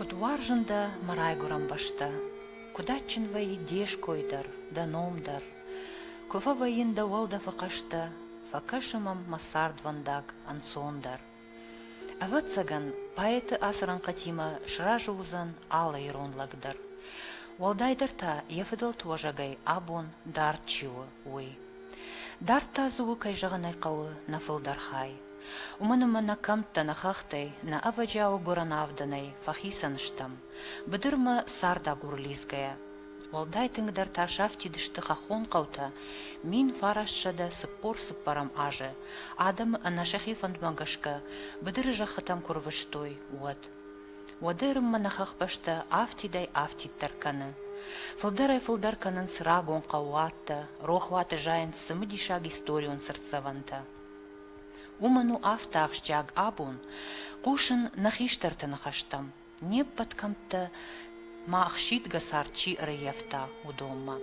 Куыд уарзын дӕ мӕ райгуырӕн бӕстӕ, Куыд адджын вӕййы де ской дӕр, дӕ ном дӕр. Куы фӕвӕййын дӕ уӕлдӕфы хъӕстӕ, Фӕкӕсы мӕм мӕ цардвӕндаг ӕнцондӕр. Ӕвӕццӕгӕн, поэты ацы рӕнхъытимӕ сразы уыдзӕн алы ирон лӕг дӕр. Уӕлдайдӕр та йӕ фыдӕлты уӕзӕгӕй абон дард чи у, уый. Дард та дзы у, кӕй зӕгъын ӕй хъӕуы, нӕ фылдӕр хай. Уымӕн ӕмӕ нӕ кӕмттӕ, нӕ хӕхтӕй, нӕ ӕвӕджиауы гуырӕн авдӕнӕй фӕхицӕн стӕм, быдырмӕ цардагур лидзгӕйӕ. Уӕлдай тынгдӕр та сафтид сты хӕххон хъӕутӕ, мин фарассӕдӕ цыппор-цыппӕрӕм азы, адӕмы ӕнӕ сӕхи фӕндмӕ гӕсгӕ быдыры зӕххытӕм куы рвыстой, уӕд. Уӕды Ӕрыммӕ нӕ хӕхбӕстӕ афтидӕй афтиддӕр кӕны. Фылдӕрӕй-фылдӕр кӕнынц рагон хъӕууаттӕ, рохуаты зайынц цымыдисаг историон цыртдзӕвӕнтӕ. Уымӕн у афтӕ ахсджиаг абон хъусын нӕ хистӕрты ныхӕстӕм, не ппӕт кӕмттӕ ма ӕхсидгӕ цард чи ӕрӕййӕфта, уыдонмӕ.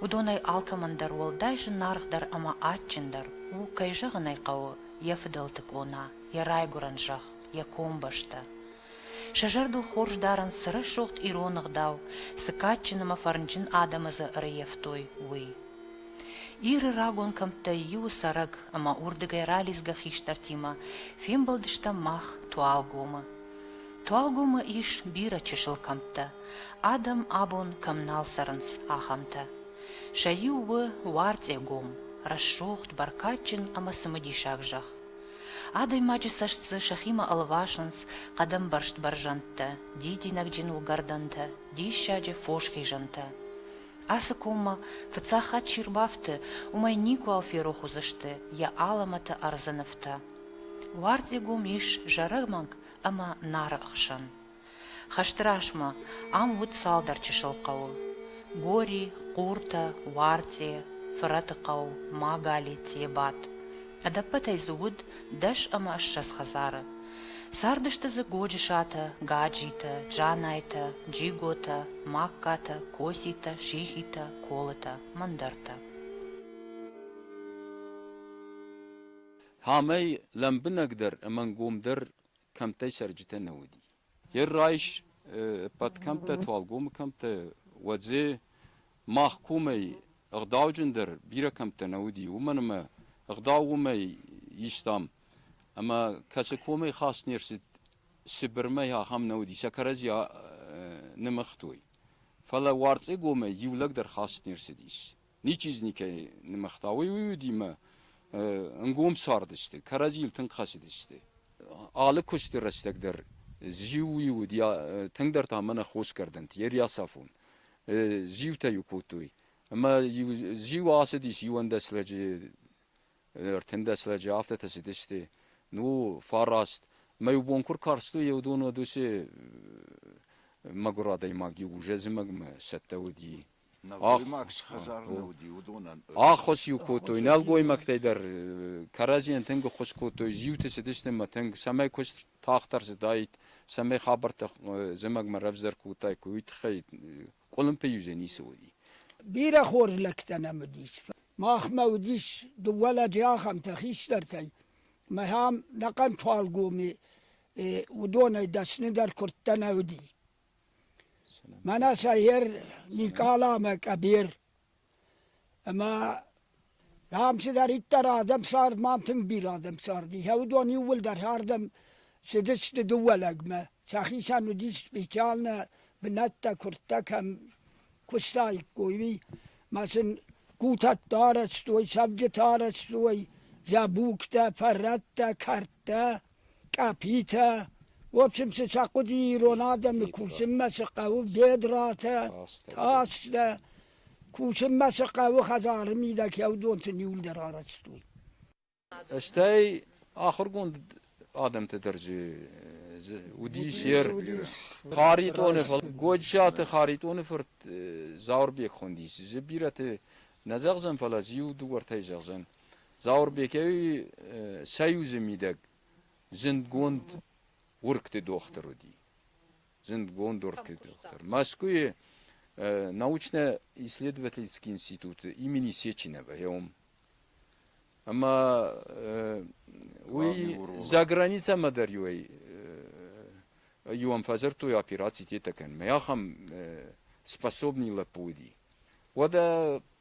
Уыдонӕй алкӕмӕн дӕр уӕлдай зынаргъдӕр ӕмӕ адджындӕр у, кӕй зӕгъын ӕй хъӕуы, йӕ фыдӕлты къона, йӕ райгуырӕн зӕхх. йӕ комбӕстӕ. Сӕ зӕрдыл хорз дарынц, цы рӕсугъд ирон ӕгъдау, цы кадджын ӕмӕ фӕрнджын адӕмы дзы ӕрыййӕфтой, уый. Иры рагон кӕмттӕй иуы цӕрӕг ӕмӕ уырдыгӕй ралидзгӕ хистӕртимӕ фембӕлдыстӕм мах Туалгомы. Туалгомы ис бирӕ чысыл кӕмттӕ, адӕм абон кӕм нал цӕрынц, ахӕмтӕ. Сӕ иу у Уарцъегом, рӕсугъд, бӕркадджын ӕмӕ цымыдисаг зӕхх. Адӕймаджы цӕст дзы сӕхимӕ ӕлвасынц хъӕдӕмбӕрзт бӕрзӕндтӕ, дидинӕгджын уыгӕрдӕнтӕ, диссаджы фос хизӕнтӕ. Ацы коммӕ фыццаг хатт чи рбафты, уымӕй никуал ферох уыдзысты йӕ алӕмӕты ӕрдзы нывтӕ. Уардигом ис зарӕг мӕнг ӕмӕ Нары хсӕн. Хӕсты размӕ ам уыд цалдӕр чысыл хъӕуы, Гори, Хъуртӕ, Уарцъе, Фырӕты хъӕу, Магали, Цъебат. Ӕдӕппӕтӕй дзы уыд дӕс ӕмӕ ссӕдз хӕдзары. Цардысты дзы Годжысатӕ, Гаджитӕ, Жанайтӕ, Джиготӕ, Магкатӕ, Коситӕ, Шихитӕ, Колытӕ, мӕндӕртӕ. Амӕй лӕмбынӕгдӕр ӕмӕ ӕнгомдӕр кӕмттӕй цӕрджытӕ нӕ уыди. Е райс ӕппӕт кӕмттӕ, Туалгомы кӕмттӕ, Уадзе, мах комӕй ӕгъдауджындӕр бирӕ кӕмттӕ нӕ уыди, уымӕн ӕмӕ ӕгъдау уымӕй истам, ӕмӕ кӕцы комӕй хаст не рцыд, Сыбырмӕ ахӕм нӕ уыди, сӕ кӕрӕдзи нымыгътой. Фӕлӕ Уарцъегомӕй иу лӕг дӕр хаст не рцыдис. ничи дз никӕй нымыгъта, уый уыдимӕ ӕнгом цардысты, кӕрӕдзийыл тынг хӕцыдысты. Алы куысты рӕстӕг дӕр зиу уыд, тынгдӕр та мӕнӕ хосгӕрдӕнты, Ериасафон. Зиутӕ-иу кодтой. Ӕмӕ зиу ацыдис иуӕндӕс лӕджы, ӕртындӕс лӕджы, афтӕтӕ цыдысты. Ну, фараст. Мӕ иу бон куы ркарстой, еу дон уыд уыцы мӕгуыр адӕймаг иу зӕзымӕгмӕ цӕттӕ уыди. Ӕххуыс-иу кодтой нӕлгоймӕгтӕй дӕр, кӕрӕдзийӕн тынг ӕххуыс кодтой, зиуты цыдысты тынг, цӕмӕй куыст тагъддӕр цыдаид, цӕмӕй хабӕрттӕ зымӕгмӕ равзӕр кодтаиккой, уый тыххӕй къуылымпыйы юзӕй ницы уыди. Бирӕ хорз лӕгтӕ нӕм уыдис. Махмӕ уыдис дыууӕ лӕджы ахӕмтӕ хистӕртӕй, мӕ ам нӕхъӕн Туалгоми, уыдонӕй дӕсны дӕр куырдтӕ нӕ уыди. Мӕнӕ сӕхер Никъала ӕмӕ Къӕбер. Ӕмӕ, дам, цыдӕриддӕр адӕм цард, ма тынг бирӕ адӕм цард. Ихӕ уыдон иууылдӕр ардӕм цыдысты дыууӕ лӕгмӕ. Сӕхицӕн уыдис специальнӕ бынӕттӕ, куырттӕ кӕм куыстаиккой, уый. Ӕмӕ сын кутӕттӕ арӕзтой, цӕвджытӕ арӕзтой, зӕбугтӕ, фӕрӕттӕ, кӕрдтӕ. къӕпитӕ. В общем, цы сӕ хъуыди ирон адӕмы кусынмӕ цы хъӕуы бедратӕ, тастӕ. Кусынмӕ цы хъӕуы хӕдзары мидӕг кӕуыдонты ниуылдӕр арӕзтой. Стӕй ахуыргонд адӕмты дӕрджы уыдис ер Харитъоны фырт Гочаты Харитъоны фырт Зауырбек хуындис. Зы бирӕты нӕ зӕгъзӕн, фӕлӕ зиу дыууӕртӕй зӕгъзӕн. Зауырбекӕй союзы мидӕг зындгонд уыргты дохтыр уыди. Зындгонд уыргты дохтыр. Мӕскуыйы научно-исследовательский институты имени Сеченова йӕм. Ӕмӕ уый за границӕмӕ дӕр иу иуӕн фӕдзырдтой операци тетӕ кӕнынмӕ. Ахӕм способный лӕппу уыди. Уӕдӕ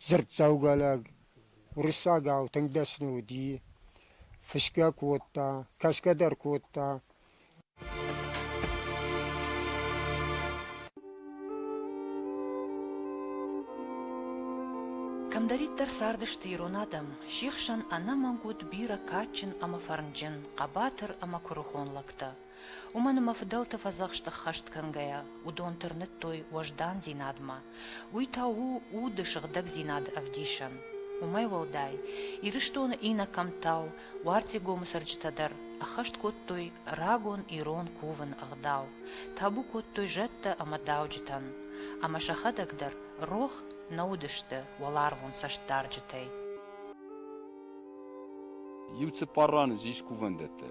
Дзырддзӕугӕ лӕг уырыссагау тынг дӕсны уыди, фысгӕ кодта, кӕсгӕ дӕр кодта. Кӕмдӕриддӕр цардысты ирон адӕм, се хсӕн ӕнӕмӕнг уыд бирӕ кадджын ӕмӕ фӕрнджын, хъӕбатыр ӕмӕ куырыхон лӕгтӕ. Уымӕн ӕмӕ фыдӕлты фӕдзӕхст ӕххӕст кӕнгӕйӕ, уыдон тырныдтой уӕздандзинадмӕ, уый та у уды сыгъдӕгдзинады ӕвдисӕн. Уымӕй уӕлдай, Ирыстоны иннӕ кӕмттау Уартегомы цӕрджытӕ дӕр ӕххӕст кодтой рагон ирон кувын ӕгъдау, табу кодтой зӕдтӕ ӕмӕ дауджытӕн, ӕмӕ сӕхӕдӕг дӕр рох нӕ уыдысты уӕларвон цӕстдарджытӕй. Иу цыппар раны ис кувӕндӕттӕ,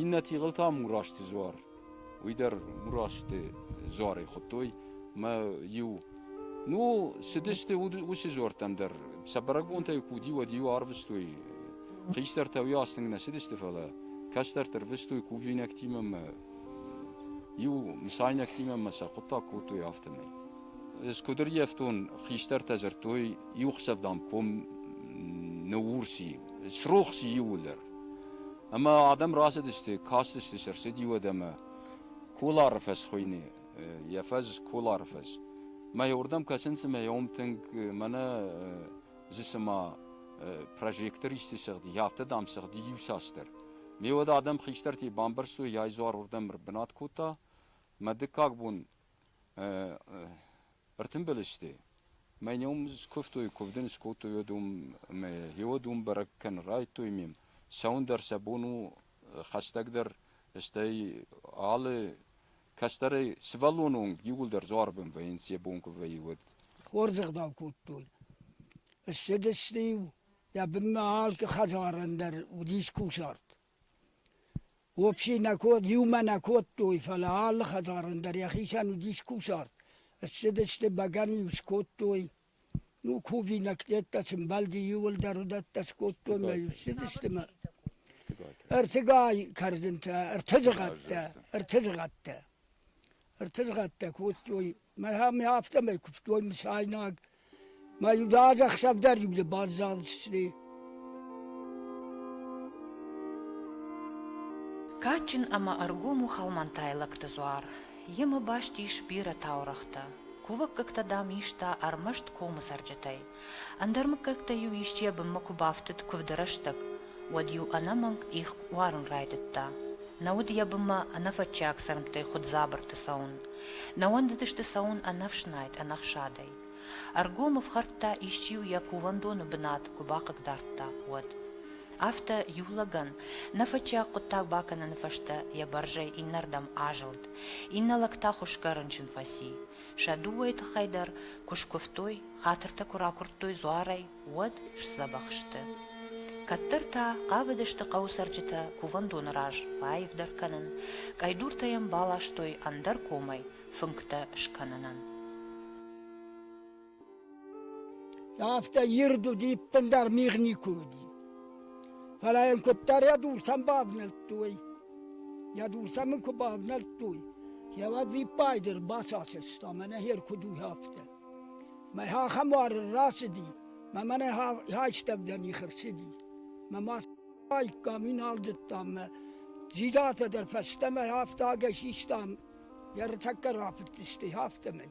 Иннӕ тигъыл та Мурасти дзуар. Уый дӕр Мурасти дзуарӕй хуыдтой мӕ иу. Ну, цыдысты уыцы дзуӕрттӕм дӕр. Сӕ бӕрӕгбонтӕй куы уыди, уӕд-иу арвыстой. Хистӕртӕ уый аст тынг нӕ цыдысты, фӕлӕ кӕстӕрты рвыстой кувинӕгтимӕ мӕ иу мысайнӕгтимӕ мӕ сӕ хъуыддаг кодтой, афтӕмӕй. Ӕз куыд ӕрйӕфтон, хистӕртӕ дзырдтой иу хсӕв, дам, ком ныуурси, срохси иууылдӕр. Ӕмӕ адӕм рацыдысты, кастысты сӕ рцыди уӕд ӕмӕ Колары фӕз хуыйны, йӕ фӕз Колары фӕз. Мӕ уырдӕм кӕсын цымӕ йӕ уым тынг мӕнӕ зы цыма прожектор исты сыгъди, афтӕ дам сыгъди иуцасдӕр. Ме уӕд адӕм хистӕртӕй бамбӕрстой, йӕ изуар уырдӕм ӕрбынат кодта. Мӕ дыккаг бон Ӕртымбыл сты. Мӕ ном скуывтой, куывд ын скодтой уӕд уым ӕмӕ гьеуӕд уым бӕрӕг кӕнын райдтой ме м. Сӕуын дӕр сӕ бон у хӕстӕгдӕр, стӕй алы кӕстӕрӕй сывӕллоны онг иууылдӕр дзуарбын вӕййынц йӕ бон куы вӕййы уӕд. Хорз ӕгъдау кодтон. Ссыдысты-иу, йӕ бынмӕ алкы хӕдзарӕн дӕр уыдис кусарт. Уопси нӕ код, иумӕ нӕ кодтой, фӕлӕ алы хӕдзарӕн дӕр йӕхицӕн уыдис кусарт, ссыдысты бӕгӕныйыл скодтой. Ну, кувинӕгтӕ сымбӕлди иуылдӕр уыдӕттӕ скодтой мӕ ссыдысты мӕ ӕртыгай кӕрдынтӕ, ӕртӕ зыгъӕттӕ, ӕртӕ зыгъӕттӕ. ӕртызгъӕдтӕ кодтой. Мӕ ме афтӕмӕй куывтой мысайнаг. Мӕ иу ӕдӕхсӕв дӕр иу дзы баззадысты. Кадджын ӕмӕ ӕргом у хӕлмӕнтӕйлӕгты дзуар. Йемӕ баст ис бирӕ таурӕгътӕ. Кувӕггӕгтӕ, дам, иста ӕрмӕст комы цӕрджытӕй. Ӕндӕр мыггӕгтӕ-иу исчи йӕ бынмӕ куы бафтыд куывды рӕстӕг, уӕд-иу ӕнӕмӕнг их уарын райдыдта. Нӕ уыд йӕ бынмӕ ӕнӕфӕтчиаг цӕрмттӕй хуыддзабырты цӕуын. Нӕ уӕндыдысты цӕуын ӕнӕфснайд, ӕнӕхсадӕй. Ӕргом ӕфхӕрдта, исчи-иу йӕ кувӕндоны бынат куы бахъыгдардта, уӕд. Афтӕ иу лӕгӕн нӕ фӕтчиаг хъуыддаг бакӕныны фӕстӕ йӕ бӕрзӕй иннӕрдӕм азылд, иннӕ лӕг та хуысгӕ рынчын фӕци. Сӕ дыууӕйы тыххӕй дӕр куы скуывтой, хатыртӕ куы ракуырдтой дзуарӕй, уӕд сдзӕбӕх сты. Кӕддӕр та хъавыдысты хъӕуы цӕрджытӕ кувӕндоны раз фӕаивдӕр кӕнын, къӕйдуртӕ йӕм баластой ӕндӕр комӕй фынгтӕ скӕнынӕн. Афтӕ ирд уыди, иппындӕр мигъ никуы уыди. Фӕлӕ йын куыддӕр йӕ дурсӕм бавнӕлдтой, йӕ дурсӕм ын куы бавнӕлдтой, йӕ уӕд виппайды ӕрбацасӕста, мӕнӕ хер куыд у афтӕ. Мӕ ахӕм уары рацыди, мӕ мӕнӕ хайстӕвдӕн ихы рцыди. Мӕ мацаиккам иналдыдтам мӕ дзидатӕ дӕр фӕстӕмӕ афтӕ ӕгӕр систам, йӕ ртӕккӕ рафыдтысты, афтӕмӕй.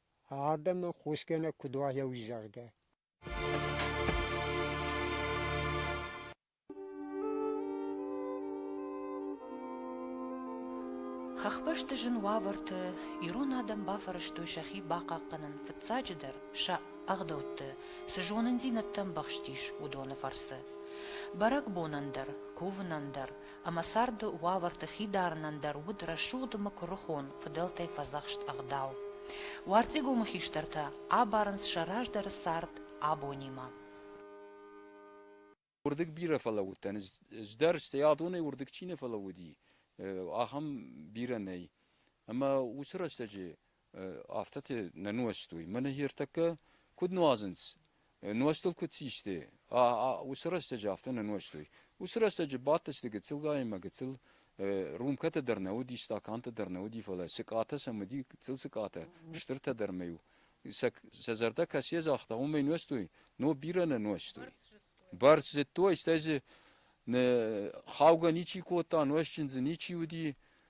Адӕмы хосгӕнӕг куыд уа йӕ уый-зӕрдӕ. Хӕхбӕсты зын уавӕрты ирон адӕм бафӕрӕзтой сӕхи бахъахъхъӕнын, фыццаджыдӕр сӕ ӕгъдӕутты цы зонындзинӕдтӕ ӕмбӕхстис, уыдоны фӕрцы. Бӕрӕгбонӕн дӕр, кувынӕн дӕр ӕмӕ царды уавӕрты хидарынӕн дӕр уыд рӕсугъдмӕ куырыхон, фыдӕлтӕй фӕдзӕхст ӕгъдау. Уарцъегомы хистӕртӕ абарынц сӕ раздӕры цард абонимӕ. Уырдыг бирӕ фӕлӕууыдтӕн ӕз дӕр, стӕй адонӕй уырдыг чи нӕ фӕлӕууыди, ахӕм бирӕ нӕй. Ӕмӕ уыцы рӕстӕджы афтӕ нӕ нуӕзтой. Мӕнӕ ертӕккӕ куыд нуазынц, нуӕзтыл куыд систы, уыцы рӕстӕджы афтӕ нӕ нуӕзтой. Уыцы рӕстӕджы бадтысты гыццылгайымӕ гыццыл, рюмкӕтӕ дӕр нӕ уыди, стакантӕ дӕр нӕ уыди, фӕлӕ сыкъатӕ сӕм уыди, гыццыл сыкъатӕ, стыртӕ дӕр ма-иу сӕ зӕрдӕ кӕцӕй загъта, уымӕй нуӕзтой, но бирӕ нӕ нуӕзтой. Бӕрц зыдтой, стӕй дзы хаугӕ ничи кодта, нуӕзджын дзы ничи уыди,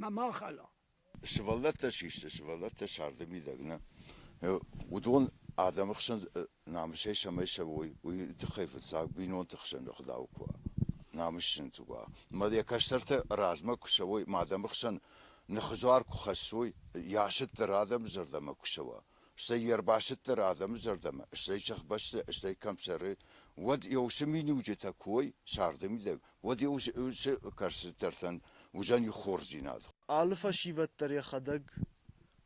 мӕ ма хала. Сывӕллӕттӕ систы, сывӕллӕттӕ царды мидӕг нӕ. Уыдон адӕмы хсӕн намысӕй цӕмӕй цӕуой, уый тыххӕй фыццаг бинонты хсӕн ӕгъдау куы уа, намыс зынтг уа. Ӕмӕ йӕ кӕстӕртӕ размӕ куы цӕуой, ма адӕмы хсӕн ныхыдзуар куы хӕссой, йӕ асыт дӕр адӕмы зӕрдӕмӕ куы цӕуа, стӕй йе рбасыддӕр адӕмы зӕрдӕмӕ, стӕй сӕхбӕсты, стӕй кӕм цӕры, уӕд йӕ уыцы миниуджытӕ куы уой, царды мидӕг, уӕд йӕ уыцы кӕрцытӕртӕн уыдзӕн их хорздзинад. Алы фӕсивӕд дӕр йӕхӕдӕг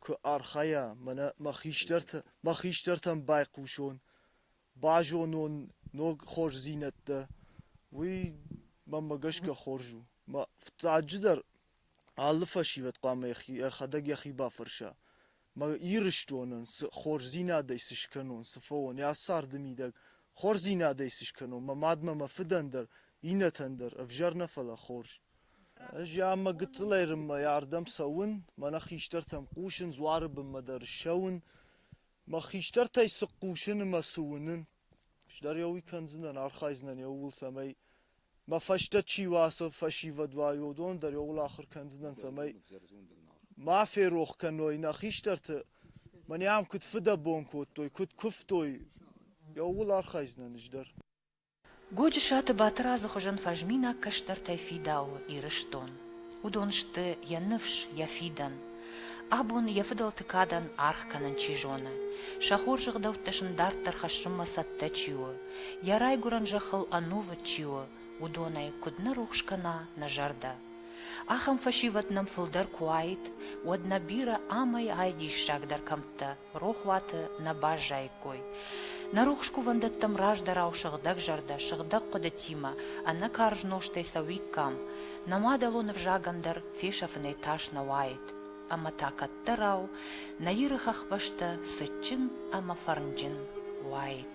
куы архайа, мӕнӕ мӕ хистӕрты, мӕ хистӕртӕн байхъусон, базонон ног хорздзинӕдтӕ, уый мӕнмӕ гӕсгӕ хорз у. Мӕ фыццаджыдӕр, алы фӕсивӕд хъуамӕ йӕхӕдӕг йӕхи бафӕрса, Мӕ Ирыстонӕн цы хорздзинадӕй сыскӕнон, цы фӕуон йӕ царды мидӕг, хорздзинадӕй сыскӕнон, мӕ мадмӕ, мӕ фыдӕн дӕр, иннӕтӕн дӕр ӕвзӕр нӕ, фӕлӕ хорз. Ӕз йӕ ӕмӕ гыццылӕй рынмӕ ардӕм цӕуын, мӕнӕ хистӕртӕм хъусын, дзуары бынмӕ дӕр ссӕуын. Мӕ хистӕртӕй цы хъусын ӕмӕ цы уынын, Сдӕр еу кӕндзинан, архайдзинан еугул, цӕмӕй мӕ фӕстӕ чи уа ацо фӕсивӕд уа, уыдон дӕр еугул ахур кӕндзинан, цӕмӕй ма ферох кӕной нӕ хистӕрты, мӕн ам куыд фыдӕбон кодтой, куыд куывтой, еугул архайдзинан ӕз дӕр. Годжысаты Батырадзы хуызӕн фӕзминаг кӕстӕртӕй фидауы Ирыстон. Уыдон сты йӕ ныфс, йӕ фидӕн. Абон йӕ фыдӕлты кадӕн аргъ кӕнын чи зоны, сӕ хорз ӕгъдӕуттӕ сын дарддӕр хӕссынмӕ цӕттӕ чи у, йӕ райгуырӕн зӕххыл ӕнувыд чи у, уыдонӕй куыд нӕ рухс кӕна нӕ зӕрдӕ. Ахӕм фӕсивӕд нӕм фылдӕр куы уаид, уӕд нӕ бирӕ ӕмӕ ай диссагдӕр кӕмттӕ рохуаты нӕ баззаиккой. Нӕ рухс кувӕндӕттӕм раздӕрау сыгъдӕгзӕрдӕ сыгъдӕг хъуыдытимӕ ӕнӕ карз нозтӕй цӕуиккам, нӕ мадӕлон ӕвзагӕн дӕр фесӕфынӕй тас нӕ уаид. Ӕмӕ та кӕддӕрау нӕ Иры хӕхбӕстӕ цытджын ӕмӕ фӕрнджын уаид.